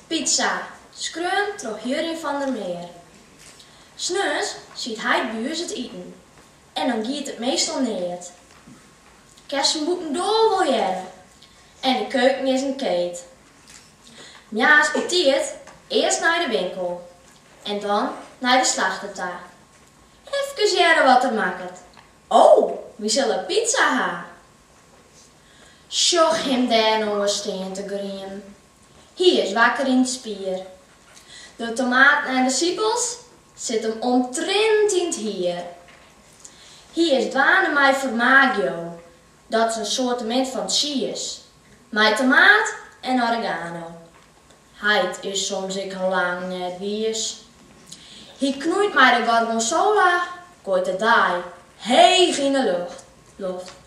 Pizza, skreaun troch Jurjen van der Meer. Sneons siedt heit by ús it iten en dan giet it meastal neat. Kinst him bûtendoar wol hearre en de keuken is in keet. Moarns betiid earst nei de winkel en dan nei de slachter ta. Efkes hearre wat er makket, O, wy sille pizza ha! Sjoch him dêr no stean te griemen. Hy is wakker yn it spier. De tomaten en de sipels sit him omtrint yn 't hier. Hy is dwaande mei formaggio, dat is in soartemint fan tsiis mei tomaat en oregano. Heit is soms ek al lang net wiis. Hy knoeit mei de gorgonzola, gooit de daai heech yn 'e loft.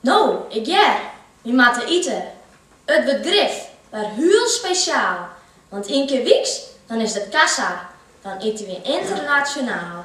No, ik hear, wy moatte ite. It wurdt grif wer hiel spesjaal, want ien kear wyks, dan is it kassa, dan ite wy ynternasjonaal.